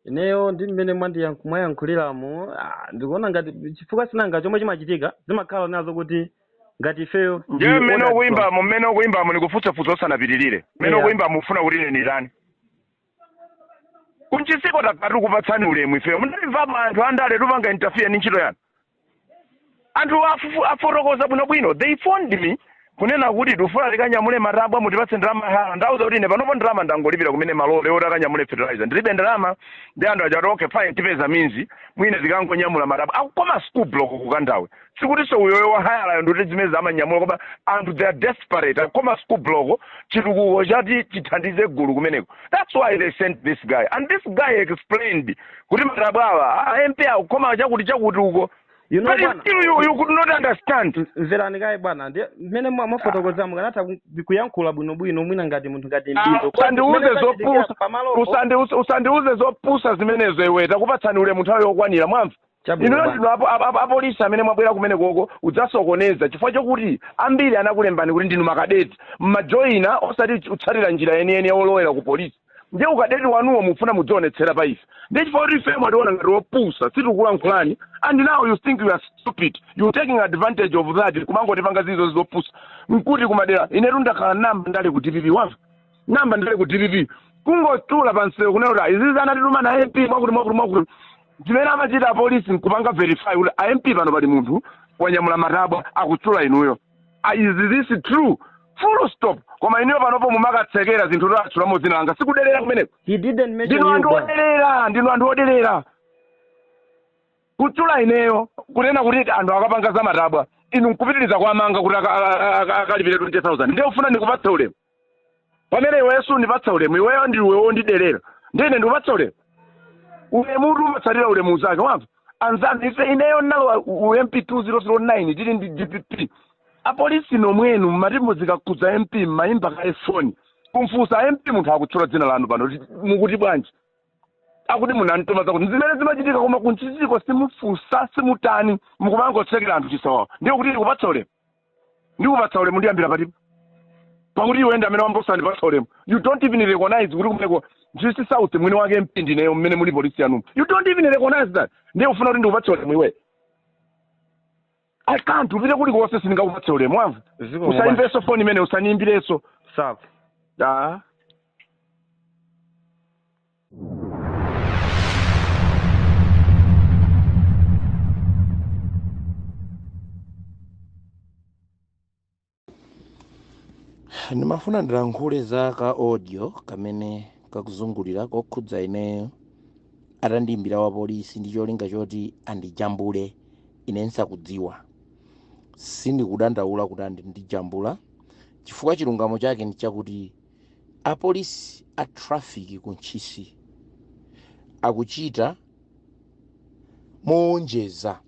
ineyo ndi mmene mwandiyank- mwayankhuliramu ah, ndikuona ngati chifukwa sinanga chomwe chimachitika zimakhala nazo kuti ngati ifeyo ndi ndiye mmene ukuimbamo mmene ukuimbamo ndikufunsa funso usanapitirire mmene Yeah. ukuimbamo ufuna kuti ine nditani ku ntchisiko takati kupatsani ulemu ifeyo munamvapo anthu andale tupanga interfere ndi ntchito yanu anthu afufu- afotokoza bwinobwino they phoned me kunena kuti tifuna tikanyamule matabwa mutipatse ndalama ya hayala ndauza kuti ine panopo ndalama ndangolipira kumene malole oti akanyamule fertilizer ndilibe ndalama ndiye anthu aja ati okay fine tipeza means mwina tikangonyamula matabwa akukhoma school block ku kandawe sikutinso uyoyo wahayalayo ndikuti zimene amanyamula koma anthu they are desperate akukhoma school block chitukuko choti chithandize gulu kumeneko that's why they sent this guy and this guy explained kuti matabwa awa a mp akukhoma chakuti chakuti uko You know, but bwana. still you, you could not understand M- mverani kaye bwana ndi mmene mwa- mwafotokoza mukanatha ku- kuyankhula bwinobwino mwina ngati munthu ngati Ah, mdindo usandiuze zopusa pamalopo Usandi- us- usandiuze zopusa zimenezo iwe takupatsani ulemu nthawi yokwanira mwamva Chabwino inuyo bwana. ndinu apo- apo- apo- apolisi amene mwabwera kumenekoko udzasokoneza chifukwa chokuti ambiri anakulembani kuti ndinu makadeti mmajoyina osati utsatira njira yeniyeni yolowera ku polisi ndiye ukadeti wanuwo mufuna mudzionetsera pa ife ndiye chifukwa kuti ife mwationa ngati wopusa sitikulankhulani and now you think we are stupid you taking advantage of that kumangotipanga zizo zopusa mkuti kumadera inetu ndakhala nayamba ndale ku dpp wamva nayamba ndale ku dpp kungotchula pamsewu kunena kuti izizi anatituma ndi a mp mwakuti mwakuti mwakuti zimene amachita apolisi nkupanga verify kuti a mp pano pali munthu wanyamula matabwa akutchula inuyo Ah, is this true full stop koma inuyo panopo mumakatsekera zinthu zoti atchulamo dzina langa sikudelera kumeneko He didn't mention ndinu you, anthu bwana. odelera ndinu anthu odelera kutchula ineyo kunena kuti anthu akapanga za matabwa inu nkupitiriza kuwamanga kuti aka- aka- aka- akalipire 20000 ndiye ufuna ndikupatse ulemu pamene iweyo sundipatsa ulemu iweyo ndiwe wondidelera ndiye ine ndikupatsa ulemu ulemu uti umatsatira ulemu unzake wamva anzanu ife ineyo ndinalowa u mp 2009 tili ndi dpp apolisi nomwenu mmati zikakhudza mp mmayimba kaye foni kumfunsa mp munthu akutchula dzina lanu pano kuti mukuti bwanji akuti munamtuma zakuti zimene zimachitika koma ku ntchisiko simufunsa simutani mukumangotsekera anthu chisawawa ndiye kuti ndikupatsa ulemu ndikupatsa ulemu ndiyambira pati pakuti iwe ndi amene wayamba osandipatsa ulemu you don't even recognize kuti kumeneko ntchisi south mwini wake mp ndineyo mmene muli polisi yanumu you don't even recognize that ndiye ufuna kuti ndikupatse ulemu iwe i can't upite kuli konse sindingakupatse ulemu wamva Zikomo bwana. usayimbenso foni imeneyi usandiimbirenso Sawa. ah ndimafuna ndilankhule za ka audio kamene kakuzungulira kokhudza ineyo atandiimbira wa polisi ndi cholinga choti andijambule ine nsakudziwa sindikudandaula kuti andijambula chifukwa chilungamo chake ndi chakuti Apolisi a traffic ku Ntchisi akuchita mowonjeza,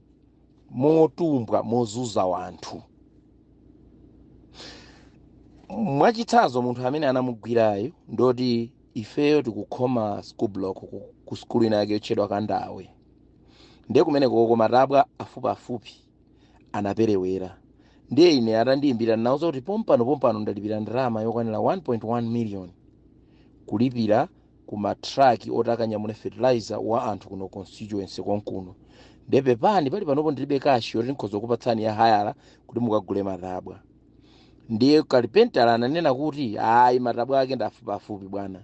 motumbwa, mozuza wanthu. Mwachitsanzo munthu amene anamugwirayu ndoti ifeyo tikukhoma school block ku, ku skulu ina yake yotchedwa Kandawe. Ndiye kumeneko koma matabwa afupiafupi. anaperewera ndiye ine atandiyimbira ndinawuza kuti pompano pompano ndalipira ndalama yokwanira 1.1 million kulipira ku matraki oti akanyamule fertilizer wa anthu kuno constituency konkuno ndiye pepani pali panopo ndilibe kashi yoti nkhoza kupatsani ya hayala kuti mukagule matabwa ndiye kalipentala ananena kuti ayi matabwa ake ndafupiafupi bwana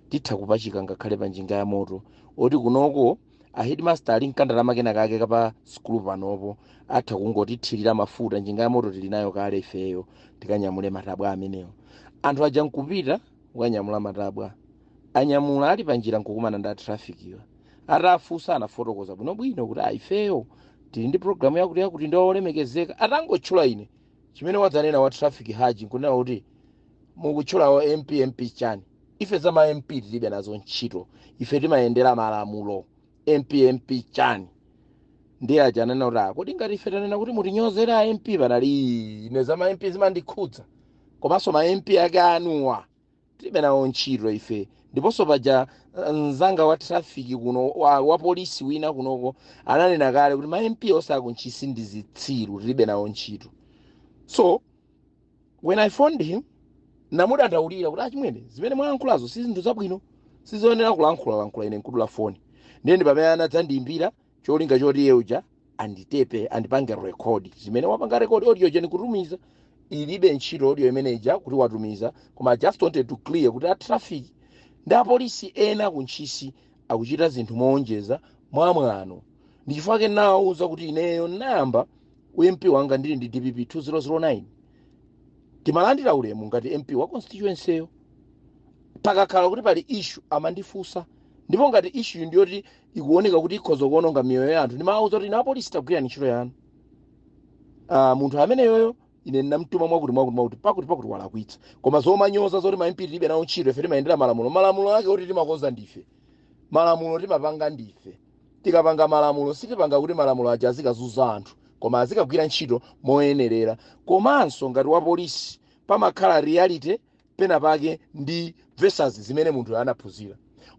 titha kupachika ngakhale pa njinga ya moto oti kunoko a headmaster ali nkandalama kena kake kapa sukulu panopo atha kungotithirira mafuta njinga ya moto tili nayo kale ifeyo tikanyamule matabwa amenewo anthu aja nkupita kukanyamula matabwa anyamula ali panjira nkukumana ndi atrafikiwa atafunsa anafotokoza bwinobwino kuti a ifeyo tili ndi programu yakuti yakuti ndi olemekezeka atangotchula ine chimene wadzanena wa traffic uja nkunena kuti mukutchula wa mp mp chani ife za ma mp tilibe nazo ntchito ife timayendera malamulo mp mp chani ndiye aja ananena kuti "Ah, kodi ngati ife tanena kuti mutinyozere a mp panali ine za ma mp zimandikhudza komanso ma mp ake anuwa tilibe nawo ntchito ife ndiponso paja eh, mzanga wa traffic kuno wa, wa polisi wina kunoko ananena kale kuti ma mp onse akuntchisi ndi zitsiru tilibe nawo ntchito so when i phoned him ndamudandaulira kuti achimwene zimene mwalankhulazo si zinthu zabwino sizoyenera kulankhula lankhula ine nkudula foni ndiye ndi pamene anadzandiyimbira cholinga choti iye uja anditepe andipange rekodi zimene wapanga rekodi audio ija ndi kutumiza ilibe ntchito audio imene ija kuti watumiza koma I just wanted to clear kuti a traffic ndi apolisi ena ku ntchisi akuchita zinthu mowonjeza mwamwano ndi chifukwa chake ndawawuza kuti ineyo ndayamba ump wanga ndili ndi dpp 2009 timalandira ulemu ngati mp wa constituency yo pakakhala kuti pali issue amandifunsa ndipo ngati issue ndiyoti ikuoneka kuti ikhoza kuononga miyoyo ya anthu ndimawauza kuti inu apolisi tagwirani ntchito yanu Ah, munthu ameneyoyo ine ndinamtuma mwakuti mwakuti mwakuti pakuti pakuti walakwitsa koma zomanyoza zoti ma MP tilibe nawo ntchito ife timayendera malamulo malamulo ake kuti timakonza ndife malamulo timapanga ndife tikapanga malamulo sitipanga kuti malamulo aja azikazunza anthu koma azikagwira ntchito moyenerera komanso ngati wapolisi pamakhala reality pena pake ndi versus zimene munthuyo anaphunzira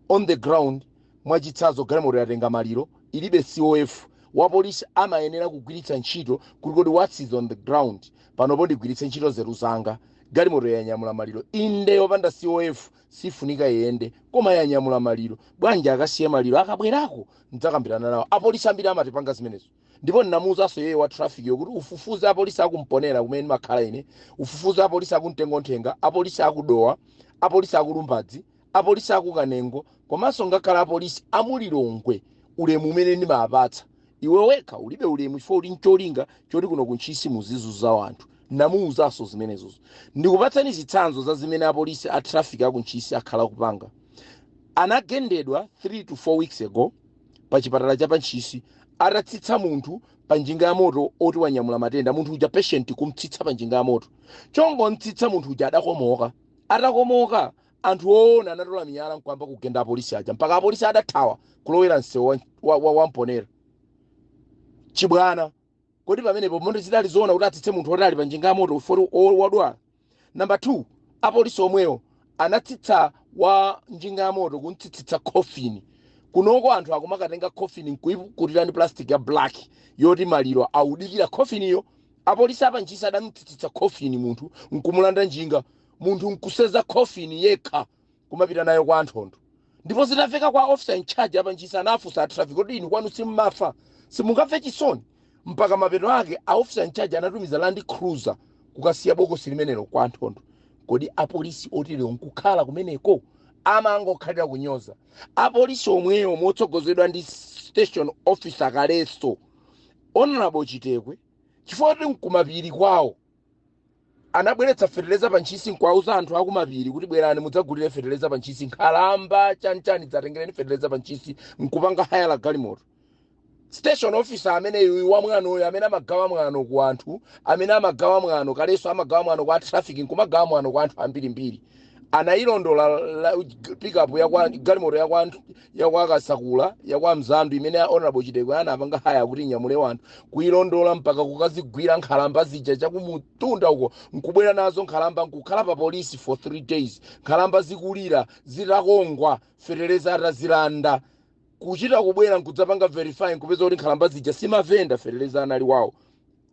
on the ground mwachitsanzo galimoto yatenga maliro ilibe cof wapolisi amayenera kugwiritsa ntchito kuti kodi what's is on the ground panopo ndigwiritse ntchito nzeru zanga galimoto yanyamula maliro inde yopanda cof sifunika iyende koma yanyamula maliro bwanji akasiye maliro akabwerako ndidzakambirana nawo apolisi ambiri amatipanga zimenezo ndipo ndinamuuzanso iyeyo wa trafficyo kuti ufufuze apolisi aku mponera kumene ndimakhala ine ufufuze apolisi aku mtengonthenga apolisi aku dowa apolisi aku lumbadzi apolisi aku kanengo komanso ngakhale apolisi amulilongwe ulemu umene ndimawapatsa iwe wekha ulibe ulemu chifukwa uli ncholinga choti kuno kuntchisi muzizunza wanthu namuuzanso zimenezo ndikupatsani zitsanzo za zimene apolisi a traffic akuntchisi akhala kupanga anagendedwa 3 to 4 weeks ago pa chipatala cha pa Ntchisi atatsitsa munthu pa njinga ya moto oti wanyamula matenda munthu uja patient kumtsitsa pa njinga ya moto chongomtsitsa munthu uja adakomoka atakomoka anthu oona anatola miyala nkwamba kugenda apolisi aja mpaka apolisi adathawa kulowera msewu wa, wa, wa, wa mponera chibwana Kodi pamenepo moti zidali zoona kuti atsitse munthu woti ali pa njinga ya moto woti o- wodwala? Number two, apolisi omwewo anatsitsa wa njinga ya moto kumtsitsitsa coffin. Kunoko anthu akumakatenga coffin nkuikutira ndi plastic ya black yoti maliro audikira coffiniyo. Apolisi apa Ntchisi adamtsitsitsa coffin munthu nkumulanda njinga. Munthu nkuseza coffin yekha. kumapita nayo kwa Nthondo ndipo zitafika kwa officer in charge apa ntchisi anafunsa a traffic kuti inu kwanu simmafa simungamve chisoni mpaka mapeto ake a officer in charge anatumiza land cruiser kukasiya bokosi limenelo kwa Nthondo kodi apolisi oterewo nkukhala kumeneko amangokhalira kunyoza apolisi omwewo motsogozedwa ndi station officer kaleso honorable chitekwe chifukwa kuti nkumapiri kwawo anabweretsa feteleza pa ntchisi nkuwauza anthu akumapiri kuti bwerani mudzagulire feteleza pa ntchisi nkhalamba chanichani dzatengereni feteleza pa ntchisi nkupanga haya la galimoto station officer ameneyu wamwanoyo amene amagawa mwano ku anthu amene amagawa mwano kaleso amagawa mwano kwa traffic nkumagawa mwano kwa anthu ambirimbiri anayilondola la- pickup yakwa galimoto yakwa yakwa kasakula yakwa mzambi imene honorable Chitekwe anapanga haya kuti nyamule wanthu kuyilondola mpaka kukazigwira nkhalamba zija chakumutunda uko nkubwera nazo nkhalamba nkukhala pa polisi for three days nkhalamba zikulira zitakongwa feteleza atazilanda kuchita kubwera nkudzapanga verifying kupeza kuti nkhalamba zija simavenda feteleza anali wawo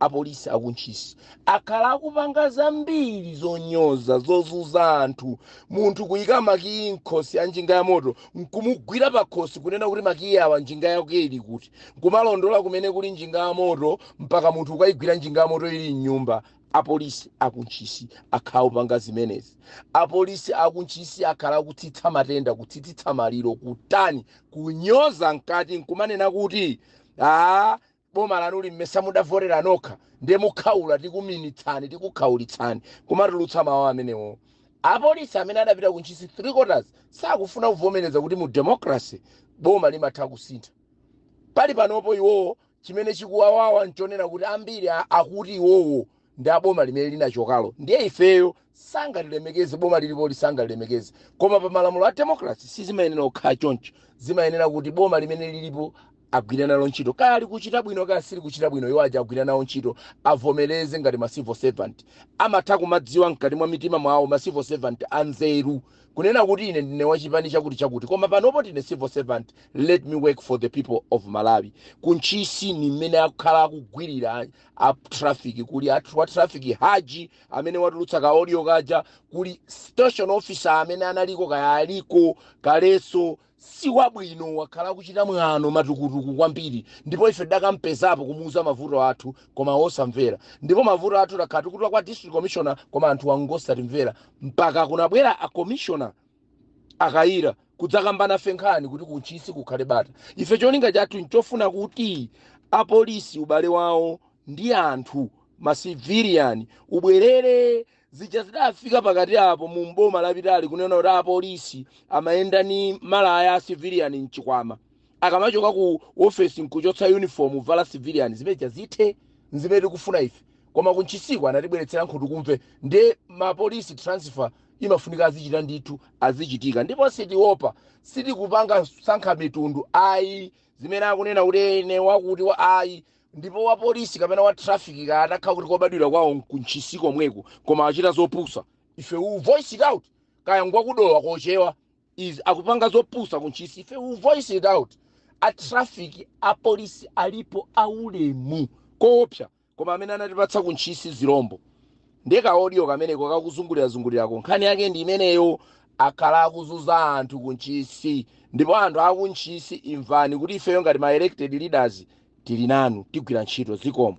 Apolisi aku Ntchisi akhala akupanga zambiri zonyoza, zozuza anthu. Munthu kuyika makiyi mkhosi a njinga ya moto nkumugwira pakhosi kunena kuti makiyi awa njinga yake ili kuti? Nkumalondola kumene kuli njinga ya moto mpaka munthu ukayigwira njinga ya moto ili mnyumba. Apolisi aku Ntchisi akhala akupanga zimenezi. Apolisi aku Ntchisi akhala akutsitsa matenda, kutsitsitsa maliro, kutani, kunyoza mkati nkumanena kuti aah boma lanuli mmesa mudavotera nokha ndiye mukhaula tikuminitsani tikukhaulitsani kumatulutsa mawu amenewo apolisi amene adapita ku ntchisi 3 quarters sakufuna kuvomereza kuti mu democracy boma limatha kusintha pali panopo iwowo chimene chikuwawawa nchonena kuti ambiri akuti iwowo ndi a boma limene linachokalo ndiye ifeyo sangalilemekeze boma lilipoli sangalilemekeze koma pa malamulo a democracy sizimayenera kukhala choncho zimayenera kuti boma limene lilipo agwire nalo ntchito kaya likuchita bwino kaya silikuchita bwino iwo aja agwira nawo ntchito avomereze ngati ma civil servant amatha kumadziwa mkati mwa mitima mwawo ma civil servant anzeru kunena kuti ine ndine wachipani chakuti chakuti koma panopo ndine civil servant let me work for the people of malawi kuntchisi ni mmene akhala akugwirira a traffic kuli athu wa traffic haji amene watulutsa ka audio kaja kuli station officer amene analiko kaya aliko kaleso si wabwino wakhala akuchita mwano matukutuku kwambiri ndipo ife tidakampezapo kumuuza mavuto athu koma wosamvera ndipo mavuto athu takhala tikutula kwa district commissioner koma anthu angosatimvera mpaka kunabwera a commissioner a Kayira kudzakamba nafe nkhani kuti kuntchisi kukhale bata ife cholinga chathu nchofuna kuti apolisi ubale wawo ndi anthu masivilian ubwerere zija zidafika pakati apo mu mboma lapitali kunena kuti apolisi amayenda ni malaya a civilian mchikwama akamachoka ku ofesi nkuchotsa uniform vala civilian zimene zija zithe nzimene tikufuna ife koma ku ntchisiko anatibweretsera nkhutukumve nde ma police transfer imafunika azichita ndithu azichitika ndipo sitiopa sitikupanga kusankha mitundu ayi zimene akunena kuti ene wakuti wa ayi ndipo wa polisi kapena wa traffic kaya atakhala kuti kobadwira kwawo ku ntchisi komweko koma achita zopusa ife we will voice it out kaya ngwakudowa kochewa is akupanga zopusa ku ntchisi ife we will voice it out a traffic a polisi alipo aulemu koopsa koma amene anatipatsa ku ntchisi zilombo ndiye kaodiyo kameneko kakuzungulirazungulirako nkhani yake ndi imeneyo akhala akuzuza anthu ku ntchisi ndipo anthu aku ntchisi imvani kuti ifeyo ngati ma elected leaders tili nanu tigwira ntchito zikomo